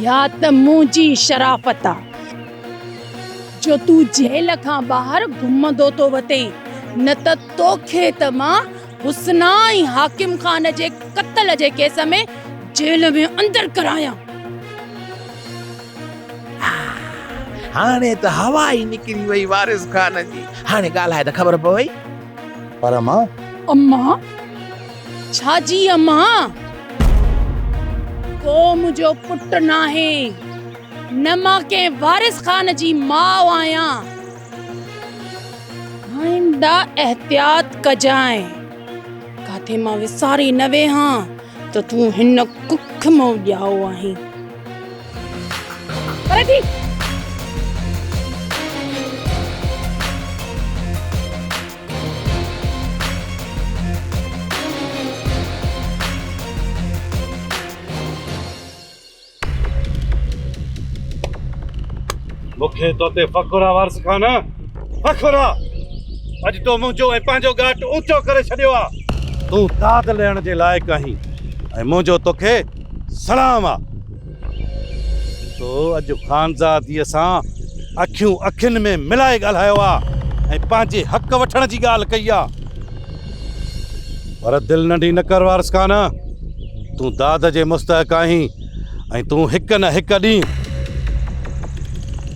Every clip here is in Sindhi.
يا ته منهنجي شرافت آ جو تون جيل کان ٻاهر گهمندو ٿو وتين نه ته توکي ته مان حسنا ۽ حاڪم خان جي قتل جي ڪيس ۾ جيل ۾ اندر ڪرايان. هاڻي ته هوا ئي نڪري وئي وارث خان جي. هاڻي ڳالهائي ته خبر پوي. پر امان. امان؟ ڇا جي امان؟ ڪو منهنجو پٽ ناهي. نه مان ڪنهن وارث خان جي ماء آهيان. آئنده احتياط ڪجانء، ڪاٿي مان وساري نه ويهان ها ته تون هن ڪک مئو ڄائو آهين. پري ٿي! مون کي تو تي فخر آ وارث خان، فخر آ. اڄ تو منهنجو ۽ پنهنجو ڳاٽ اوچو ڪري ڇڏيو آ. تون داد لهڻ جي لائق آهين ۽ منهنجو توکي سلام آ. تو اڄ خانزاديء سان اکيون اکين ۾ ملائي ڳالهايو آ ۽ پنهنجي حق وٺڻ جي ڳالهه ڪئي آ. پر دل ننڍي نه ڪر وارث خان، تون داد جي مستحق آهين ۽ تون هڪ نه هڪ ڏينهن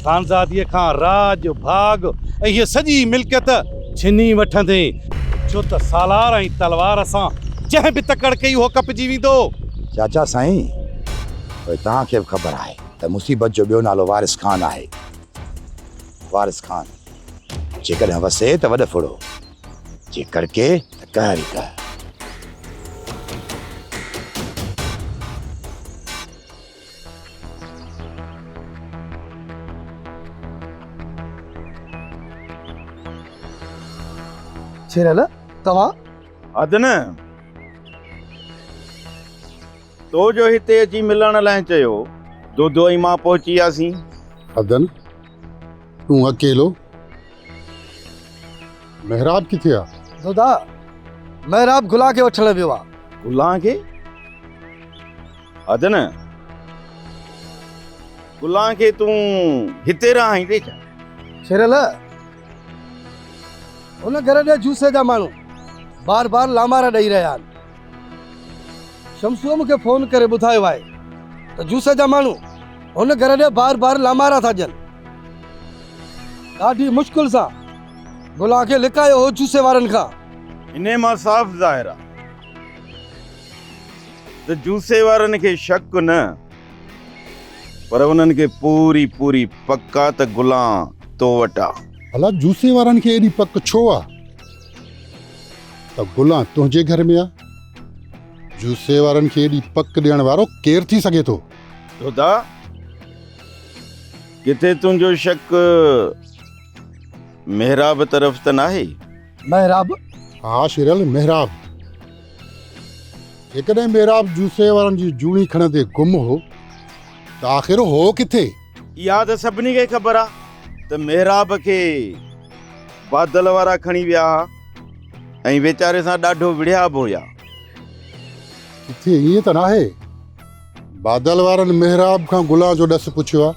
خانزادي کان راڄ، ڀاڳ ۽ هيء سڄي ملڪيت ڇني وٺندين. ڇو ته سالار ۽ تلوار سان جنهن به تڪڙ ڪئي اهو ڪپجي ويندو. چاچا سائين، پوء توهان کي به خبر آهي ته مصيبت جو ٻيو نالو وارث خان آهي. وارث خان جيڪڏهن وسي ته وڏ ڦڙو. جي ڪڙڪي ته ڪهر ئي ڪهر. شيرعلا توهان. اڌ نه تو جو هتي اچي ملڻ لاء چيو دودو ۽ مان پهچي وياسين. اڌ نه. تون اڪيلو؟ محراب ڪٿي آ؟ دادا محراب گلا کي وٺڻ ويو آ. گلا کي؟ حد نه. گلا کي تون هتي رهان ايندي ڇا؟ ڇيرل هن گهر ڏي جوسي جا ماڻهو بار بار لامارا ڏئي رهيا آهن. شمسوء مون کي فون ڪري ٻڌايو آهي ته جوسي جا ماڻهو هن گهر ڏي بار بار لامارا ٿا ڏين. ڏاڍي مشڪل سان گلان کي لڪايو هو جوسي وارن کان. انهيء مان صاف ظاهر آهي ته جوسي وارن کي شڪ نه پر انهن کي پوري پوري پڪ آ ته گلان تو وٽ آ. ڀلا جوسي وارن کي ايڏي پڪ ڇو آ؟ ته گلان تنهنجي گهر ۾ آ. جوسي وارن کي ايڏي پڪ ڏيڻ وارو ڪير ٿي سگهي ٿو؟ توتا، ڪٿي تنهنجو شڪ محراب طرف ته ناهي؟ محراب؟ ها شيرل، محراب. جيڪڏهن محراب جوسي وارن جي جوڻي کڻندي گم هو ته آخر هو ڪٿي؟ اها ته سڀني کي خبر آ ته محراب کي بادل وارا کڻي ويا ها ۽ ويچاري سان ڏاڍو وڙهيا به هيا. ڪٿي ائين ته ناهي؟ بادل وارن محراب کان گلان جو ڏس پڇيو آ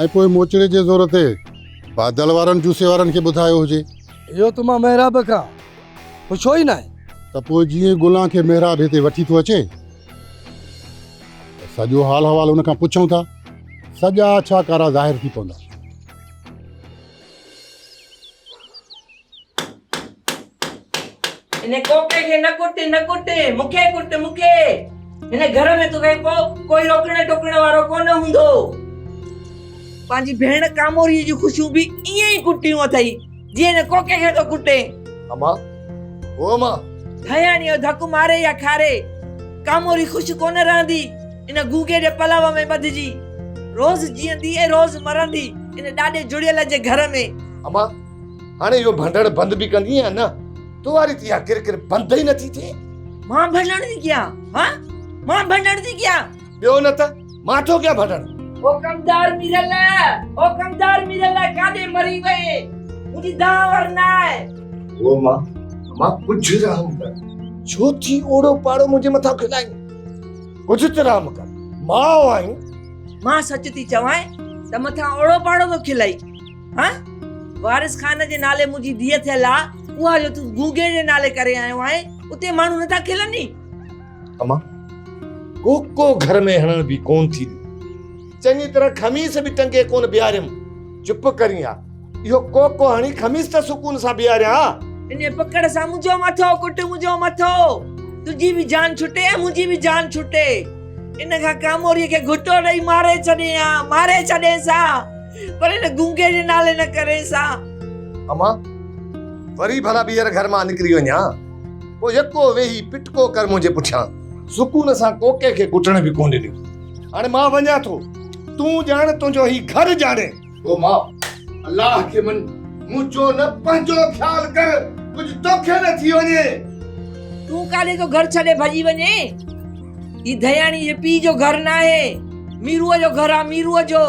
۽ پوء موچڙي جي زور تي بادل وارن جوسي وارن کي ٻڌايو هجي. اهو ته مان محراب کان پڇيو ئي ناهي. ته پوء جيئن گلان کي محراب هتي وٺي ٿو اچي. سڄو حال حوال ان کان پڇون ٿا سڄا اڇا ڪارا ظاهر ٿي پوندا ان ڪوڪي کي نه ڪٽ نه ڪٽ مونکي ڪٽ مونکي ان گھر ۾ تو کي پو ڪوئي روڪڻ ٽوڪڻ وارو ڪو نه هوندو پنهنجي ڀيڻ ڪاموري جي خوشيون به ائين ئي ڪٽيون اٿئي جي هن ڪوڪي کي ٿو ڪٽي. اما او اما. ڌياڻي او ڌڪ ماري يا کاري ڪاموري خوش ڪونه رهندي ان گونگي جي پلو ۾ ٻڌجي روز جيئندي ۽ روز مرندي ان ڏاڏي جڙيل جي گهر ۾. اما هاڻي اهو ڀنڊڙ بند به ڪندي يا نه تو واري ته اها ڪر ڪر بند ئي نٿي ٿئي. مان ڀنڊڙ ٿي ڪيان ها مان ڀنڊڙ ٿي ڪيان. ٻيو نه ته مان ٿو ڪيان ڀٽڻ. حڪمدار ميرالله، حڪمدار ميرالله ڪاڏي مري وئي؟ منهنجي دانهن ور نه آهي. هو مان، مان ڪجهه رحم ڪر. ڇو ٿي اوڙو پاڙو منهنجي مٿان کلائين؟ ڪجهه ته رحم ڪر، ماء آهين. مان سچ ٿي چوانء ته مٿان اوڙو پاڙو ٿو کلئي؟ ها؟ وارث خان جي نالي منهنجي ڌيء ٿيل آ، اها جو تون گونگي جي نالي ڪري آيو آهين، اتي ماڻهو نه ٿا کلنئي؟ اما ڪوڪو گهر ۾ هڻڻ به ڪون ٿي ڏي. چڱي طرح خميس به ٽنگي ڪون بيهاريم. چپ ڪرين ها. اهو ڪوڪو هڻي خميس ته سڪون سان بيهاريان ها. ان پڪڙ سان منهنجو مٿو ڪٽ منهنجو مٿو. تنهنجي به جان ڇٽي ۽ منهنجي به جان ڇٽي. ان کان ڪاموريء کي گهٽو ڏئي ماري ڇڏين ها. ماري ڇڏينس ها. پر ان گونگي جي نالي نه ڪرينس ها. اما وري ڀلا ٻيهر گهر مان نڪري وڃان. پوء يڪو ويهي پٽڪو ڪر منهنجي پٺيان. سڪون سان ڪوڪي کي ڪٽڻ به ڪونه ڏنو. هاڻي مان وڃان ٿو. تون ڄاڻ تنهنجو هي گهر ڄاڻي. او ماء! الله کي مڃ. منهنجو نه پنهنجو خيال ڪر. ڪجهه توکي نه ٿي وڃي. تون ڪاڏي ٿو گهر ڇڏي ڀڄي وڃين؟ هي ڌياڻي جي پيء جو گهر ناهي. ميروء جو گهر آ ميروء جو.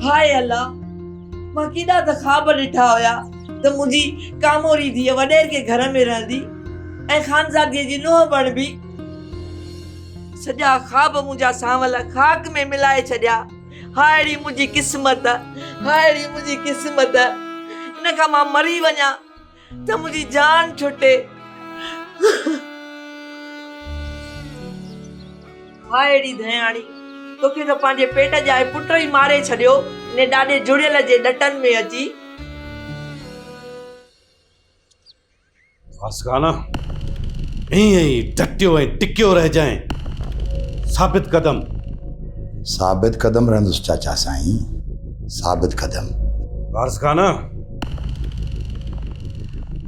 هاء الله! مان ڪيڏا ته خواب ڏٺا هيا ته منهنجي ڪاموري ڌيء وڏير ڪنهن گهر ۾ رهندي ۽ خانزادي جي نونهن بڻبي. سڄا خواب منهنجا سانول خاڪ ۾ ملائي ڇڏيا. هائڙي منهنجي قسمت! هائڙي منهنجي قسمت! ان کان مان مري وڃان. ته منهنجي جان ڇٽي. هاء اڙي ڌياڻي، توکي ته پنهنجي پيٽ ڄائي پٽ ئي ماري ڇڏيو، انهي ڏاڏي جڙيل جي ڏٽن ۾ اچي. واسڪانا، ائين ئي ڊٽيو ۽ ٽڪيو رهجانء، ثابت قدم. ثابت قدم رهندس چاچا سائين، ثابت قدم. واسڪانا!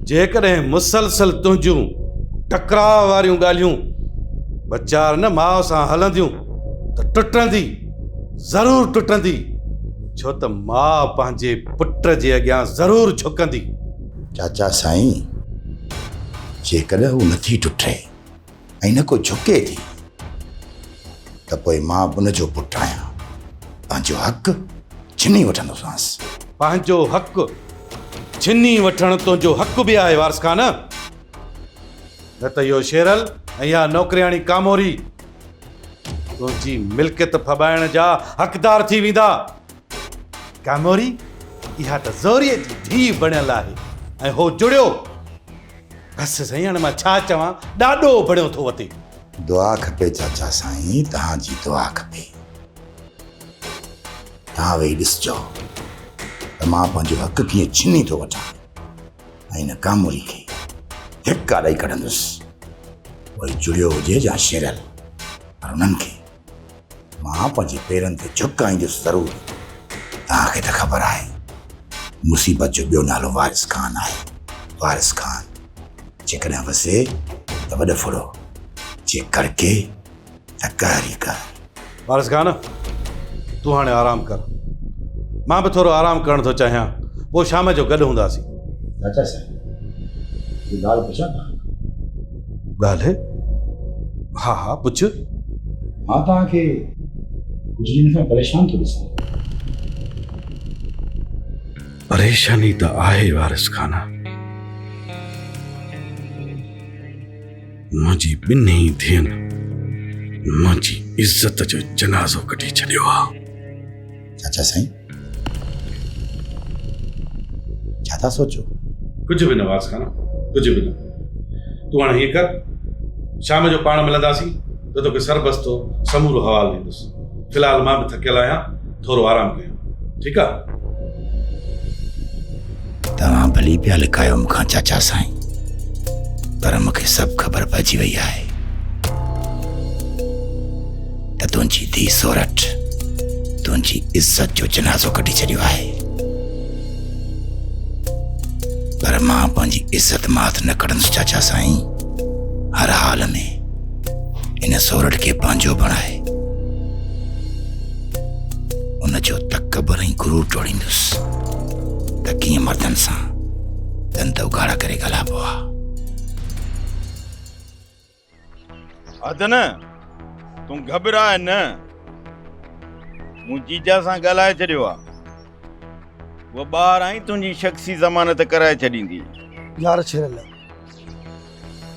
جيڪڏهن مسلسل تنهنجون ٽڪراء واريون ڳالهيون ٻچار نه ماء سان هلنديون ته ٽٽندي، ضرور ٽٽندي، ڇو ته ماء پنهنجي پٽ جي اڳيان ضرور جهڪندي. چاچا سائين جيڪڏهن هو نٿي ٽٽي ۽ نه ڪو جهڪي ٿي ته پوء مان ان جو پٽ آهيان پنهنجو حق ڇني وٺندوسانس. پنهنجو حق ڇني وٺڻ تنهنجو حق به آهي وارث خان، نه ته اهو شيرل ۽ اها نوڪرياڻي ڪاموري تنهنجي ملڪيت ڦٻائڻ جا حقدار ٿي ويندا. ڪاموري اها ته زوريء جي ڌيء بڻيل آهي ۽ هو جڙيو. بس سائين هاڻي مان ڇا چوان ڏاڏو بڻيو ٿو وتي. دعا کپي چاچا سائين توهان جي دعا کپي. توهان ويهي ڏسجو ته مان پنهنجو حق ڪيئن ڇني ٿو وٺان ۽ هن ڪاموري کي ڌڪا ڏئي ڪڍندس. پوء جڙيو هجي يا شيرل پر انهن کي مان پنهنجي پيرن تي جهڪ آئيندس ضرور. توهان کي ته خبر آهي مصيبت جو ٻيو نالو وارث خان آهي. وارث خان جيڪڏهن وسي ته وڏ ڦڙو، جي ڪڙڪي ته قهر ئي قهر. وارث خان تون هاڻي آرام ڪر. مان به ٿورو آرام ڪرڻ ٿو چاهيان. پوء شام جو گڏ هونداسين. چاچا صاحب هڪ ڳالهه پڇان توهان کان؟ ڳالهه ها ها پڇ. مان توهان کي ڪجهه ڏينهن کان پريشان ٿو ڏسان. پريشاني ته آهي وارث خان. منهنجي ٻنهي ڌين منهنجي عزت جو جنازو ڪڍي ڇڏيو آهي. چاچا سائين ڇا ٿا سوچو ڪجهه به نه واس خان ڪجهه به نه تون هاڻي هيء ڪر شام جو پاڻ ملنداسين ته توکي سربستو سمورو حوال ڏيندس في الحال مان به ٿڪيل آهيان ٿورو آرام ڪيان ٺيڪ آهي توهان ڀلي پيا لڪايو مون کان چاچا سائين پر مون کي سڀ خبر پئجي وئي آهي ته تنهنجي ڌي سورٺ تنهنجي عزت جو جنازو ڪڍي ڇڏيو آهي پر مان پنهنجي عزت مات نه کڙنس چاچا سائين هر حال ۾ ان سورٺ کي پنهنجو بڻائي ان جو تڪبر ۽ غرور ٽوڙيندس ته ڪيئن مردن سان دند اگهاڙا ڪري ڳالهائبو آ. حد نه تون گهٻراء نه. مون جيجا سان ڳالهائي ڇڏيو آ. هوء ٻاهر آئين تنهنجي شخصي ضمانت ڪرائي ڇڏيندي. يار ڇيرل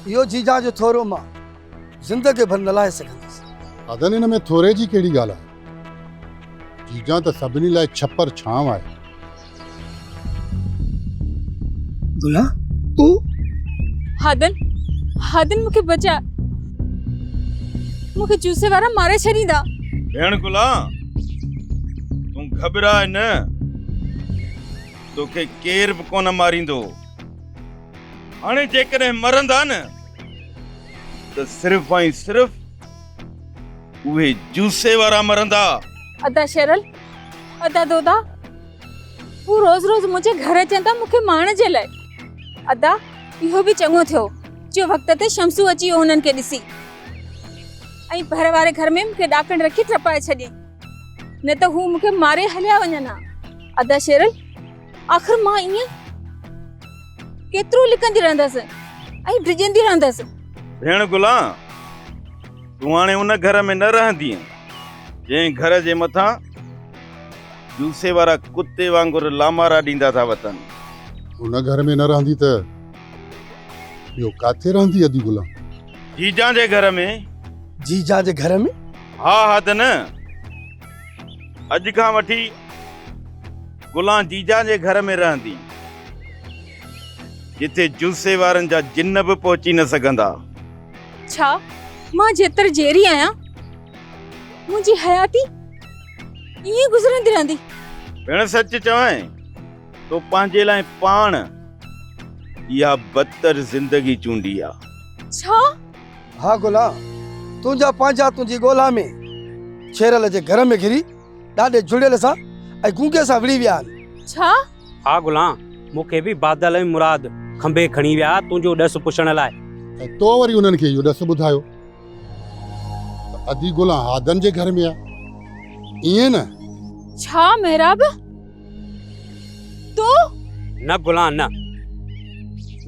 اهو جيجا جو ٿورو مان زندگي ڀر نه لاهي سگهندس. حدن ان ۾ ٿوري جي ڪهڙي ڳالهه آ. جيجان ته سڀني لاء ڇپر ڇانو آهي. گلا تو هادن هادن مون کي بچاء مون کي جوسي وارا ماري ڇڏيندا. ڀيڻ گلا تون گهٻراء نه توکي ڪير به ڪونه ماريندو هاڻي جيڪڏهن مرندا نه ته صرف ۽ صرف اهي جوسي وارا مرندا ادا شيرل ادا دودا هو روز روز منهنجي گهر اچن ٿا مونکي ماڻ جي لاء ادا اهو به چڱو ٿيو جو وقت تي شمسو اچي ويو انهن کي ڏسي ۽ ڀر واري گهر ۾ مونکي ڏاڪڻ رکي ٽپائي ڇڏي نه ته هو مونکي ماري هليا وڃن ها ادا شيرل آخر مان ايئن ڪيترو لڪندي رهندس ۽ ڊڄندي رهندس ڀيڻ گلا تون هاڻي ان گهر ۾ نه رهندي جنهن گهر جي مٿان جوسي وارا ڪتي وانگر لامارا ڏيندا ٿا وتن ان گهر ۾ نه رهندي ته ٻيو ڪاٿي رهندي ادي گلا جيجا جي گهر ۾ جيجا جي گهر ۾ ها ها ته نه اڄ کان وٺي گلان جيجا جي گهر ۾ رهندي، جتي جلسي وارن جا جن به پهچي نه سگهندا. ڇا مان جيتر جيئري آهيان، منهنجي حياتي ائين گذرندي رهندي؟ ڀيڻ سچ چوين تو پنهنجي لاء پاڻ اها بدتر زندگي چونڊي آ. ڇا؟ ها گلان، تنهنجا پنهنجا تنهنجي ڳولا ۾ ڇيرل جي گهر ۾ گهري. ڏاڍي جهڙيل سان ۽ گونگي سان وڙهي ويا آهن. ڇا؟ ها گلان، مون کي به بادل ۽ مراد کنڀي کڻي ويا تنهنجو ڏس پڇڻ لاء. ۽ تو وري انهن کي اهو ڏس ٻڌايو ته ادي گلان هادن جي گهر ۾ آهي، ائين نه؟ ڇا مهراب؟ تون نه گلان نه.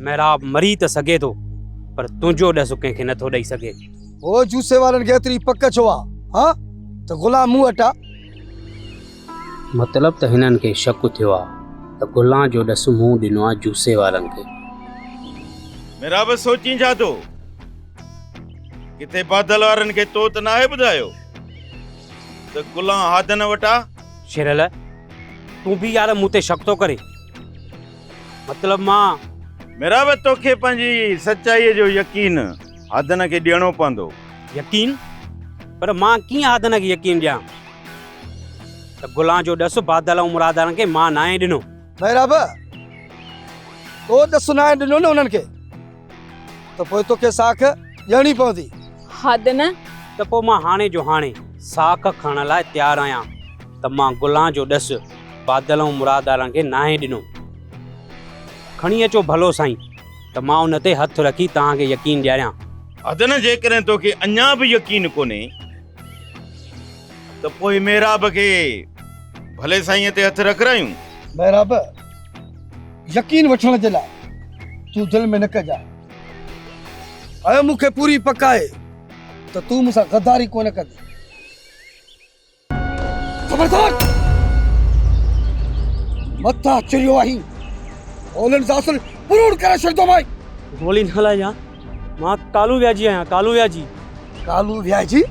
محراب مري ته سگهي ٿو پر تنهنجو ڏس ڪنهن کي نه ٿو ڏئي سگهي. هو جوسي وارن کي ايتري پڪ ڇو آ ها ته گلان مون وٽ آ. مطلب ته هنن کي شڪ ٿيو آ ته گلان جو ڏس مون ڏنو آ جوسي وارن کي. محراب سوچين ڇا ٿو. ڪٿي بادل وارن کي تو ته ناهي ٻڌايو ته گلان هادن وٽ آ. شيرل تون به يار مون تي شڪ ٿو ڪرين مطلب مان ميراب توکي پنهنجي سچائي جو يقين هادن کي ڏيڻو پوندو يقين پر مان ڪيئن هادن کي يقين ڏيان ته گلان جو ڏس بادل ۽ مرادان کي مان ناهي ڏنو ميراب تو ڏس ناهي ڏنو نه انهن کي ته پوء توکي ساک ڏيڻي پوندي. حد نه! ته پوء مان هاڻي جو هاڻي ساک کڻڻ لاء تيار آهيان ته مان گلان جو ڏس بادل ۽ مرادارن کي ناهي ڏنو. کڻي اچو ڀلو سائين ته مان ان تي هٿ رکي توهان کي يقين ڏياريان. حد نه! جيڪڏهن توکي اڃا به يقين ڪونهي ته پوء محراب کي ڀلي سائين تي هٿ رکرايون. محراب! يقين وٺڻ جي لاء تون دل ۾ نه ڪجانء. اهو مون کي پوري پڪ آهي ته تون مون سان غداري ڪونه ڪندين. خبردار! مٿا چريو آهين، گولين سان اصل پروڙ ڪري ڇڏيندومانء. گولي نه هلائجان، مان ڪالو وياجي آهيان، ڪالو وياجي. ڪالو وياجي؟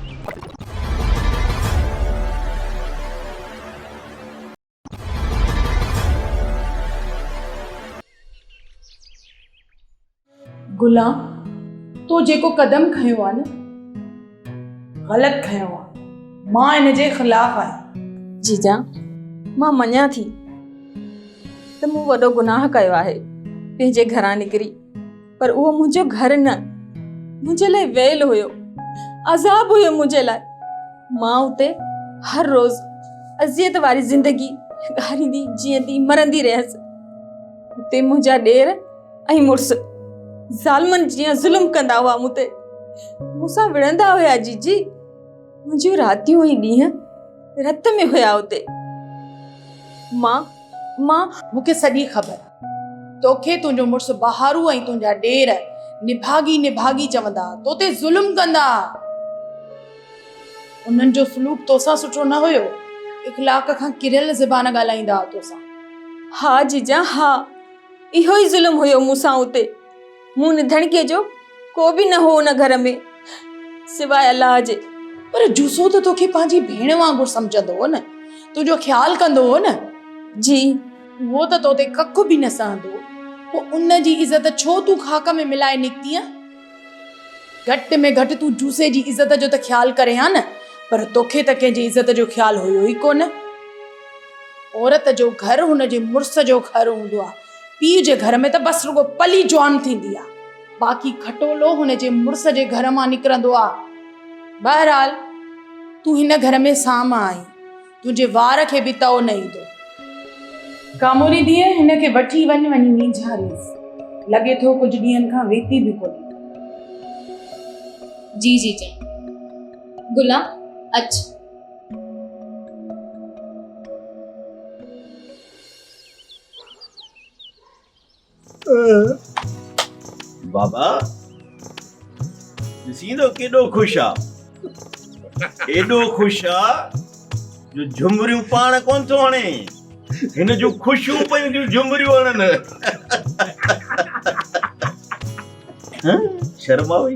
غلام تو جيڪو قدم کنيو آ نه غلط کنيو آ مان ان جي خلاف آهيان جيجا مان مڃان ٿي ته مون وڏو گناهه ڪيو آهي پنهنجي گهران نڪري پر اهو منهنجو گهر نه منهنجي لاء ويل هيو عذاب هيو منهنجي لاء مان اتي هر روز اذيت واري زندگي ڳاريندي جيئندي مرندي رهيس اتي منهنجا ڏير ۽ مڙس ظالمن جيئن ظلم ڪندا هئا مون تي مونسان وڙهندا هيا جي جي منهنجيون راتيون ۽ ڏينهن رت ۾ هيا اتي ماء ماء مونکي سڄي خبر توکي تنهنجو مڙس بهارو ۽ تنهنجا ڏير نڀاڳي نڀاڳي چوندا، تو تي ظلم ڪندا. انهن جو سلوڪ تو سان سٺو نه هيو، اخلاق کان ڪريل زبان ڳالهائيندا ها تو سان. ها جيجا ها، اهو ئي ظلم هيو مون سان اتي. مون نڌڻڪيء جو ڪو به نه هو ان گهر ۾ سواء الله جي. پر جوسو ته توکي پنهنجي ڀيڻ وانگر سمجهندو هو نه، تنهنجو خيال ڪندو هو نه؟ جي. اهو ته تو تي ڪک به نه سهندو پوء ان جي عزت ڇو تون خاڪ ۾ ملائي نڪتينء؟ گهٽ ۾ گهٽ تون جوسي جي عزت جو ته خيال ڪرين ها نه، پر توکي ته ڪنهن جي عزت جو خيال هيو ئي ڪونه. عورت جو گهر هن جي مڙس جو گهر هوندو آهي. پيء جي گهر ۾ ته بس رڳو پلي جوان ٿيندي آ، باقي کٽولو هن جي مڙس جي گهر مان نڪرندو آ. بهرحال تون هن گهر ۾ سام آهين، تنهنجي وار کي به تئو نه ايندو. ڪاموري ڌيء هن کي وٺي وڃ وڃي مينجهاريس، لڳي ٿو ڪجهه ڏينهن کان ويتي به ڪونهي. جي جي جان. گلا اچ. بابا ڏسين ٿو ڪيڏو خوش آ ايڏو خوش آ جو جھمريون پاڻ ڪون ٿو هڻي هن جون خوشيون پيون ٿيون جھمريون هڻن شرماوي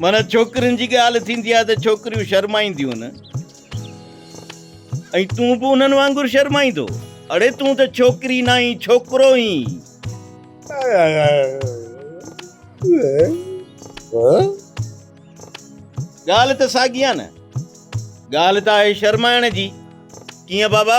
معنيٰ ڇوڪرين جي ڳالهه ٿيندي آهي ته ڇوڪريون شرمائينديون نه ۽ تون به انهن وانگر شرمائيندو اڙي تون ته ڇوڪري نه آهين ڇوڪرو آهين ڳالهه ته ساڳي آهي نه ڳالهه ته آهي شرمائڻ جي ڪيئن بابا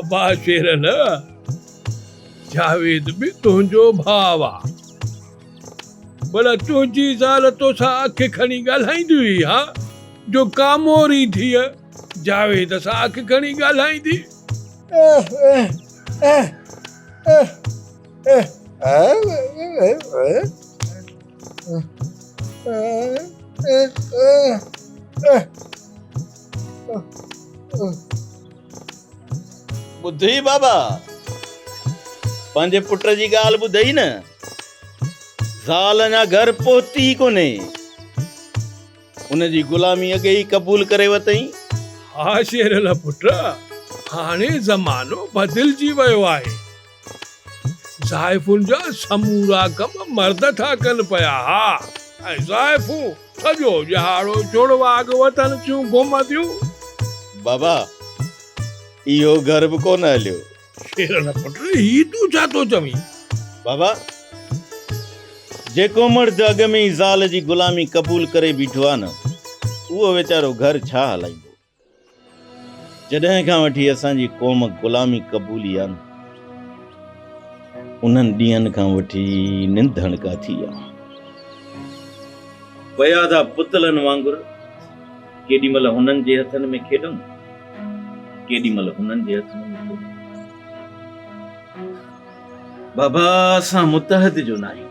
ابا شير نه جاويد به تنهنجو ڀاء آ بلا تنهنجي زال توسان اک کڻي ڳالهائيندي هئي ها جو ڪا موري ڌيء جاويد سان اک کڻي ڳالهائيندي. ٻڌئي بابا پنهنجي پٽ جي ڳالهه ٻڌئي نه زال اڃا گهر پهتي ئي ڪونهي ان جي غلامي اڳي ئي قبول ڪري وتئي ها شير الله پٽ هاڻي زمانو بدلجي ويو آهي زائفن جا سمورا ڪم مرد ٿا ڪن پيا ها ۽ زائفون سڄو ڄهاڙو جڙواڳ وتن ٿيون گهمنديون. بابا اهو گهر به ڪونه هليو. شيرل پٽ هي تون ڇا ٿو چوين؟ بابا جيڪو مرد اڳ ۾ ئي زال جي غلامي قبول ڪري بيٺو آهي نه اهو ويچارو گهر ڇا هلائيندو. جڏهن کان وٺي اسان جي قوم غلامي قبولي آ نه انهن ڏينهن کان وٺي ننڊ هڻڪا ٿي آ پيا ٿا پتلن وانگر ڪيڏي مهل هنن جي هٿن ۾ کيڏون ڪيڏي مهل هنن جي هٿن ۾ کيڏون بابا اسان متحد جو ناهيون.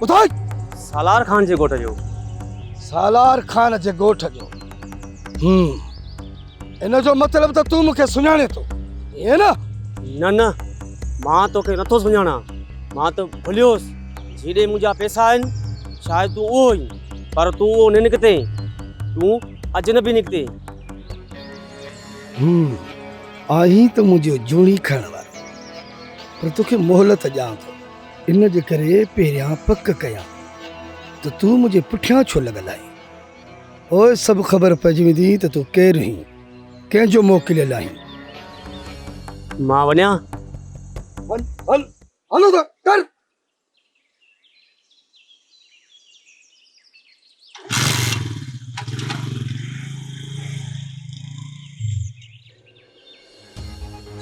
ٻڌاء! سالار خان جي ڳوٺ جو. سالار خان جي ڳوٺ جو. هم. ان جو مطلب ته تون مون کي سڃاڻين ٿو، ائين نه؟ نه نه، مان تو کي نٿو سڃاڻان. مان تو ڀليوس. جي ڏي منهنجا پئسا آهن، شايد تون اهو هئين. پر تون اهو نه نڪتين. تون اجنبي نڪتين. هم. آهين ته منهنجيون جوڻي کڻڻ وارو. پر تو کي مهلت ڏيان ٿو. ان جي ڪري پهريان پڪ ڪيان ته تون منهنجي پٺيان ڇو لڳل آهين؟ پوء سڀ خبر پئجي ويندي ته تون ڪير هين، ڪنهن جو موڪليل آهين. مان وڃان؟ وڃ، هل، هلو ته، ٽر!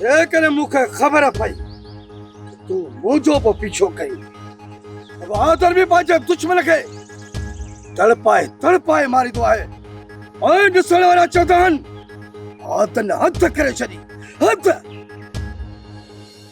جيڪڏهن مون کي خبر پئي تون منهنجو به پيڇو ڪئين بهادر به پنهنجي دشمن کي تڙپائي تڙپائي ماريندو آهي ۽ ڏسڻ وارا چوندا آهن حد نه حد ڪري ڇڏي حد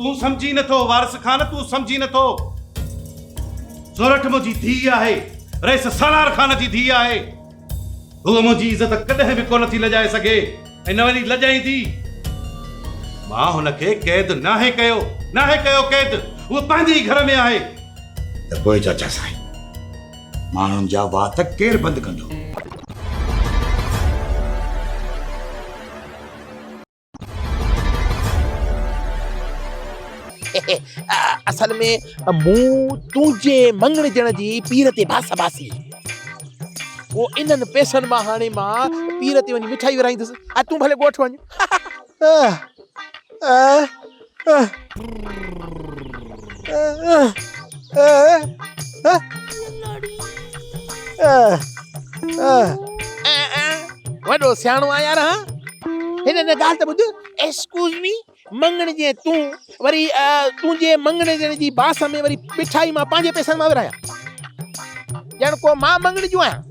تون سمجهي نٿو وارث خان تون سمجهي نٿو سورٺ منهنجي ڌي آهي رئيس سالار خان جي ڌي آهي هو منهنجي عزت ڪڏهن به ڪونه ٿي لڄائي سگهي ۽ نه وري لڄائيندي مان هن کي قيد ناهي ڪيو ناهي ڪيو قيد هو پنهنجي ئي گهر ۾ آهي ته پوء چاچا سائين ماڻهن جا وات ڪير بند ڪندو اصل ۾ مون تنهنجي مڱڻيجڻ جي پير تي باس باسي پوء انهن پئسن مان هاڻي مان پير تي وڃي مٺائي ورهائيندس ۽ تون ڀلي ڳوٺ وڃ وڏو سياڻو آهيان يار ها هن هن ڳالهه ته ٻڌ ايڪسڪيوز مي مڱڻي جي تون وري تنهنجي مڱڻي جي جي باس ۾ وري مٺائي مان پنهنجي پئسن مان ورهايان ڄڻ ڪو مان مڱڻي جون آهيان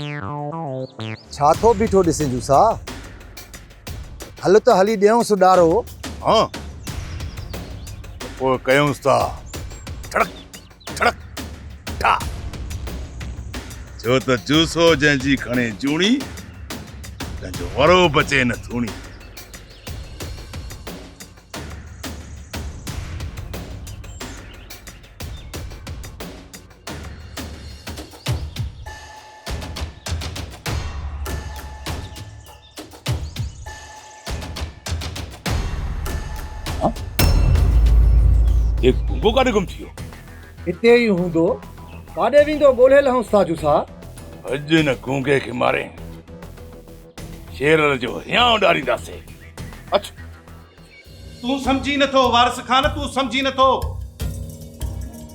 ڇا ٿو بيٺو ڏسين جوسا. هل ته هلي ڏيئونس ڏارو. ها ته پوء ڪيونس ٿا ٺڙڪ ٺڙڪ ٺا. ڇو ته جوسو جنهن جي کڻي جوڻي تنهن جو ورو بچي نه ٿوڻي. گنگو ڪاڏي گم ٿيو هتي ئي هوندو ڪاڏي ويندو ڳولهي لهون ساجو سا اڄ نه گنگي کي ماري شير جو هيان اڏارينداسي اچ تون سمجهين نه ٿو وارث خان تون سمجهين نه ٿو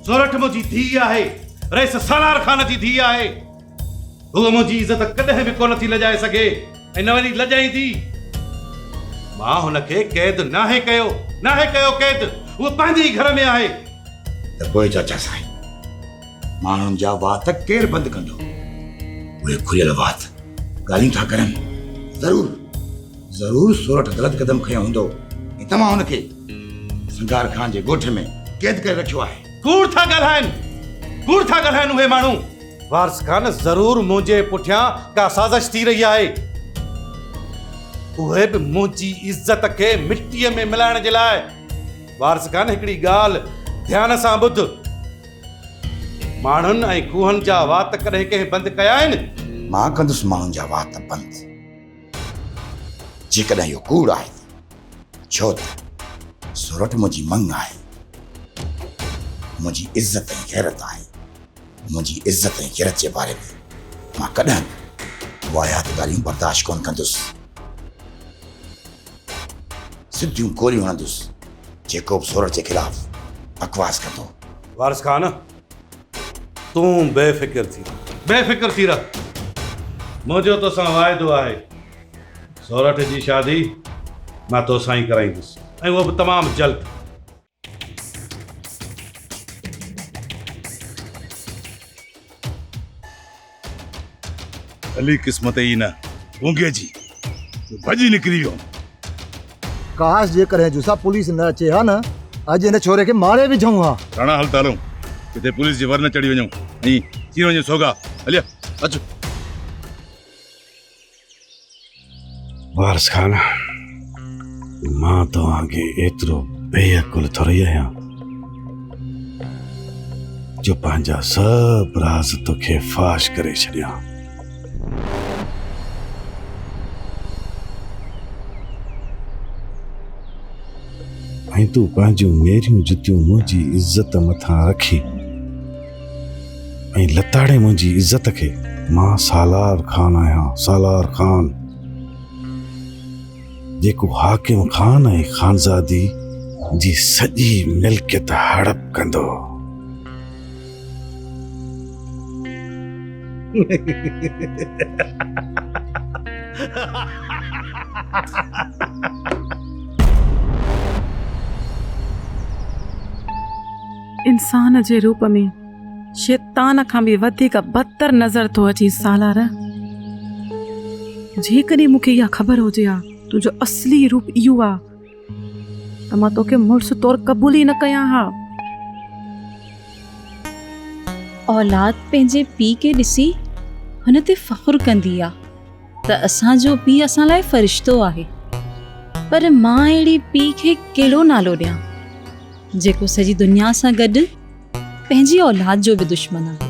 سورٺ منهنجي ڌيء آهي رئيس سالار خان جي ڌيء آهي هو منهنجي عزت ڪڏهن به ڪونه ٿي لڄائي سگهي ۽ نه وري لڄائيندي مان هن کي قيد ناهي ڪيو ناهي ڪيو قيد هو پنهنجي ئي گهر ۾ آهي ته پوء چاچا سائين ماڻهن جا وات ڪير بند ڪندو اهي کليل وات ڳالهيون ٿا ڪرن ضرور ضرور سورٺ غلط قدم کنيو هوندو ۽ توهان هن کي سنگار خان جي ڳوٺ ۾ قيد ڪري رکيو آهي. ڪوڙ ٿا ڳالهائين، ڪوڙ ٿا ڳالهائين اهي ماڻهو. وارث خان ضرور منهنجي پٺيان ڪا سازش ٿي رهي آهي. اهي به منهنجي عزت کي مٽيء ۾ ملائڻ جي لاء. وارث خان هڪڙي ڳالهه ڌيان سان ٻڌ. ماڻهن ۽ کوهن جا وات ڪڏهن ڪنهن بند ڪيا آهن؟ مان ڪندس ماڻهن جا وات بند. جيڪڏهن اهو ڪوڙ آهي ته ڇو ته سورٺ منهنجي مڱ آهي، منهنجي عزت ۽ غيرت آهي. منهنجي عزت ۽ غيرت جي باري ۾ مان ڪڏهن به واهيات ڳالهيون برداشت ڪونه ڪندس. سڌيون گوليون هڻندس جيڪو به سورٺ جي خلاف بڪواس ڪندو. وارث خان! تون بي فڪر ٿي رهه. بي فڪر ٿي رهه. منهنجو توسان واعدو آهي. سورٺ جي شادي مان توسان ئي ڪرائيندس ۽ اهو به تمام جلد. علي قسمت ئي نه گونگي جي جو ڀڄي نڪري ويو. ڪاش جيڪڏهن جوسا پوليس نه اچي ها نه اڄ هن ڇوري کي ماري وجهون ها. راڻا هل ته هلون ڪٿي پوليس جي ور نه چڙهي وڃون ۽ ٿي وڃي سوگا هليا اچ. وارث خان مان توهان کي ايترو بي عقل ٿوري آهيان جو پنهنجا سڀ راز توکي فاش ڪري ڇڏيان ۽ تون پنهنجون ميريون جتيون منهنجي عزت مٿان رکي ۽ لتاڙي منهنجي عزت کي مان سالار خان آهيان سالار خان جيڪو حاڪم خان ۽ خانزادي جي سڄي ملڪيت هڙپ ڪندو انسان جي روپ ۾ شيطان کان به وڌيڪ بدتر نظر ٿو اچي سالار جيڪڏهن مون کي اها خبر هجي ها تنهنجو اصلي روپ اهو آهي ته مان توکي مڙس طور قبول ئي نه ڪيان ها اولاد پنهنجي پي کي ڏسي هن تي فخر ڪندي آهي ته اسان جو پي اسان لاء فرشتو آهي پر مان اهڙي پي کي ڪهڙو نالو ڏيان جيڪو سڄي دنيا سان گڏ پنهنجي اولاد جو به دشمن آهي.